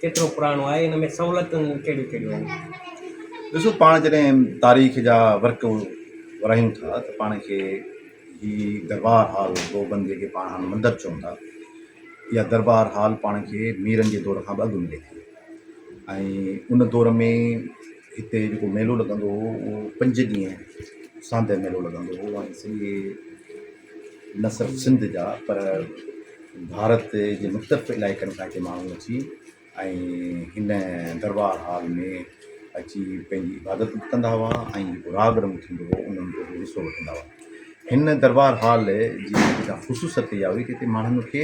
ڪيترو پراڻو آهي ان ۾ سهولتون ڪهڙيون ڪهڙيون آهن؟ ڏسو پاڻ جڏهن تاريخ جا ورق ورايون ٿا ته پاڻ کي هي دربار هال گوبند جيڪي پاڻ هاڻ مندر چئون ٿا اها دربار هال پاڻ کي ميرن جي دور کان به اڳ ملي ٿي ۽ ان دور ۾ هتي جيڪو ميلو لڳندو هو اهو پنج ڏينهن ساندهه ميلو لڳندو هو ۽ سڄي نه صرف سنڌ جا پر ڀارت جي مختلف علائقن کان هتي ماڻهو اچي ۽ هن دربار هال ۾ اچي پنهنجي عبادت به ڪندا هئا ۽ جيڪو راڳ رنگ ٿيندو هو انهن جو به حصو وٺندا هئا هن دربار هال جي جيڪا خصوصيت اها هئي ته هتي ماڻهن کي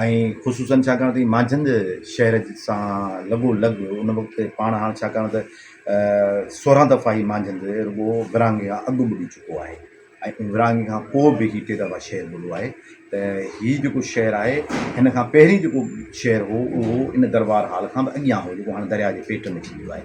۽ خصوصاً ڇاڪاڻ ته هي مانجهند شهر سان لڳو لڳ ان وقت پاڻ هاڻ ڇاڪاڻ ته سورهن دفعا هي مانجهند رڳو ورهاڱي کان اڳ ٻڏي چڪو آهي ۽ ورهاڱي کان پوء به هي ٽي دفعا شهر ٻڏو آهي ته هي جيڪو شهر آهي هن کان پهرين جيڪو شهر هو اهو ان دربار هال کان به اڳيان هو جيڪو هاڻ درياء جي پيٽ ۾ ٿي ويو آهي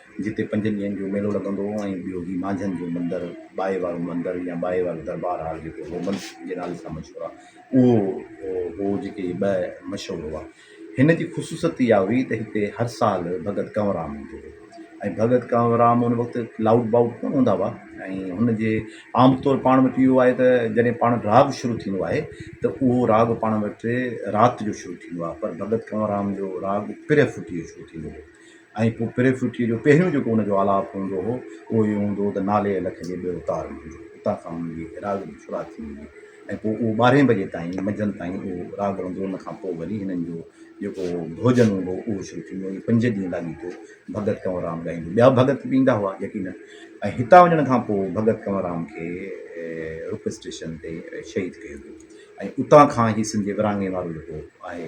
جتي پنجن ڏينهن جو ميلو لڳندو هو ۽ ٻيو هي مانجهن جو مندر ٻائي وارو مندر يا ٻائي وارو دربار هال جيڪو وومن جي نالي سان مشهور آهي اهو هو جتي هي ٻه مشهور هئا. هن جي خصوصيت اها هئي ته هتي هر سال ڀڳت ڪنورام ايندو هو ۽ ڀڳت ڪنورام ان وقت لائوڊ بائوڊ ڪونه هوندا هئا ۽ هن جي عام طور پاڻ وٽ اهو آهي ته جڏهن پاڻ راڳ شروع ٿيندو آهي ته اهو راڳ پاڻ وٽ رات جو شروع ٿيندو آهي پر ڀڳت ڪنورام جو راڳ پرهه ڦٽيء جو شروع ٿيندو هو ۽ پوء پري ڦٽيء جو پهريون جيڪو ان جو آلاپ هوندو هو، اهو اهو هوندو هو ته نالي ۽ لک جي ٻيو تار هوندو هو، اتان کان انهن جي راڳ جي شروعات ٿيندي هئي ۽ پوء اهو ٻارهين بجي تائين، منجهند تائين، اهو راڳ هلندو هو، ان کان پوء وري هنن جو جيڪو ڀوڄن هوندو هو، اهو شروع ٿيندو هو، ائين پنج ڏينهن لاڳيتو ڀڳت ڪنوررام ڳائيندو هو، ٻيا ڀڳت به ايندا هئا يقينن، ۽ هتان وڃڻ کان پوء ڀڳت ڪنوررام کي روپڙ اسٽيشن تي شهيد ڪيو ويو ۽ اتان کان هي سنڌ جي ورهاڱي وارو جيڪو آهي،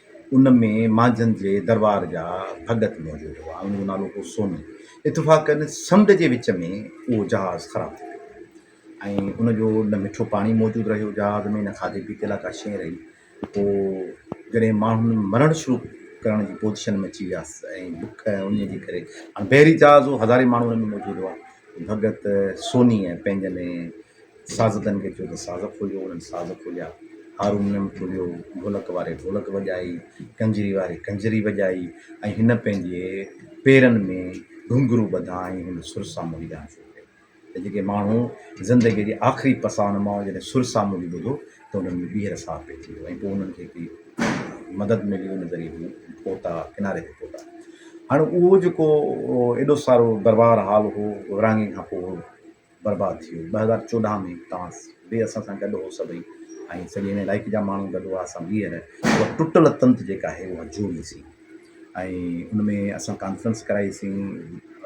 ان ۾ مانجهند جي درٻار جا ڀڳت موجود هئا. ان جو نالو هو سوني. اتفاقن سمنڊ جي وچ ۾ اهو جهاز خراب ٿي پيو ۽ ان جو نه مٺو پاڻي موجود رهيو جهاز ۾ نه کاڌي پيتي لاء ڪا شيء رهي. پوء جڏهن ماڻهن مرڻ شروع ڪرڻ جي پوزيشن ۾ اچي ويا ۽ بک ۽ انهيء جي ڪري هاڻ بحري جهاز هو هزارين ماڻهو ان ۾ موجود هئا. ڀڳت سونيء پنهنجن سازندن کي ٿيو ته ساز کوليو، انهن ساز کوليا، هارمونيم کوليو، ڍولڪ واري ڍولڪ وڄائي، ڪنجري واري ڪنجري وڄائي ۽ هن پنهنجي پيرن ۾ گهنگهرو ٻڌا ۽ هن سر سامولي ڳائڻ شروع ڪيو ته جيڪي ماڻهو زندگيء جي آخري پساهه مان جڏهن سر سامولي ٻڌو ته انهن ۾ ٻيهر ساهه پئي ٿي ويو ۽ پوء انهن کي هڪڙي مدد ملي ان ذريعي هو پهتا ڪناري تي پهتا. هاڻي اهو جيڪو ايڏو سارو دربار هال هو ورهاڱي کان پوء برباد ٿي وئي ٻه هزار چوڏهن ۾ تانس به اسان سان گڏ هو سڀئي ۽ سڄي هن علائقي جا ماڻهو گڏ هئا اسان ٻيهر اها ٽٽل تنت جيڪا آهي اها جوڙي سين ۽ ان ۾ اسان ڪانفرنس ڪرائي سين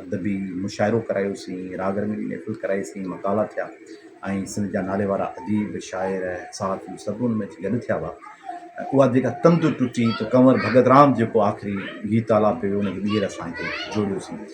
ادبي مشاعرو ڪرايو سين راڳ رنگي محفل ڪرائي سين مقالا ٿيا ۽ سنڌ جا نالي وارا اديب شاعر صحافي سڀ ان ۾ گڏ ٿيا هئا اها جيڪا تنت ٽٽي ته ڪنور ڀڳت رام جيڪو آخري گيت آلاپ ڪيو ان کي ٻيهر اسان هتي جوڙيوسين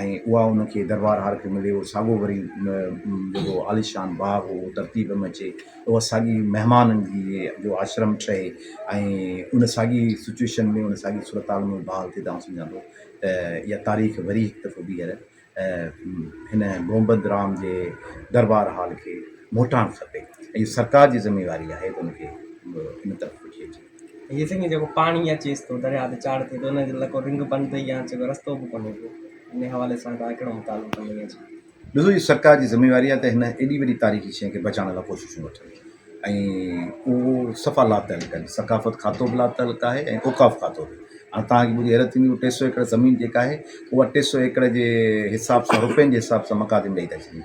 ۽ اها ان کي دربار هار کي ملي اهو ساڳو وري جيڪو عاليشان باغ هو ترتيب ۾ اچي اها ساڳي مهمانن جي جو آشرم ٺهي ۽ ان ساڳي سچويشن ۾ ان ساڳي صورتحال ۾ بحال ٿئي تان سمجهان ٿو ته اها تاريخ وري هڪ دفعو ٻيهر هن گوبند رام جي دربار هال کي موٽاڻ کپي ۽ سرڪار جي ذميواري آهي ته ان کي ان طرف وٺي اچي ڏسو جي سرڪار جي ذميواري آهي ته هن ايڏي وڏي تاريخي شيء کي بچائڻ لاء ڪوششون وٺن ۽ اهو صفا لاتعلق آهن ثقافت کاتو به لاتعلق آهي ۽ اوقاف کاتو به هاڻ تهان کي ٻڌي حيرت ٿيندي هو ٽي سئو ايڪڙ زمين جيڪا آهي اها ٽي سئو ايڪڙ جي حساب سان روپين جي حساب سان مقادم ڏئي ٿا ڇڏين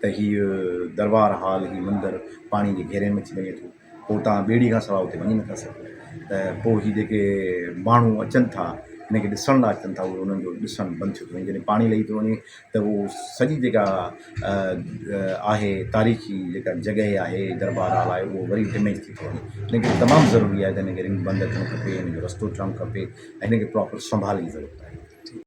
ته هيء دربار هال، هيء مندر پاڻيء جي گهيري ۾ اچي وڃي ٿو، پوء توهان ٻيڙيء کان سواء اتي وڃي نٿا سگهو. ته پوء هي جيڪي ماڻهو اچن ٿا، هن کي ڏسڻ لاء اچن ٿا، اهو انهن جو ڏسڻ بند ٿيو ٿو وڃي. جڏهن پاڻي لهي ٿو وڃي ته اهو سڄي جيڪا آهي تاريخي جيڪا جڳهه آهي، دربار هال آهي، اهو وري ڊميج ٿي ٿو وڃي. هن ڪري تمام ضروري آهي ته هن کي رنگ بند رکڻ کپي، هن جو رستو ٺهڻ کپي ۽ هن کي پراپر سنڀال جي ضرورت آهي.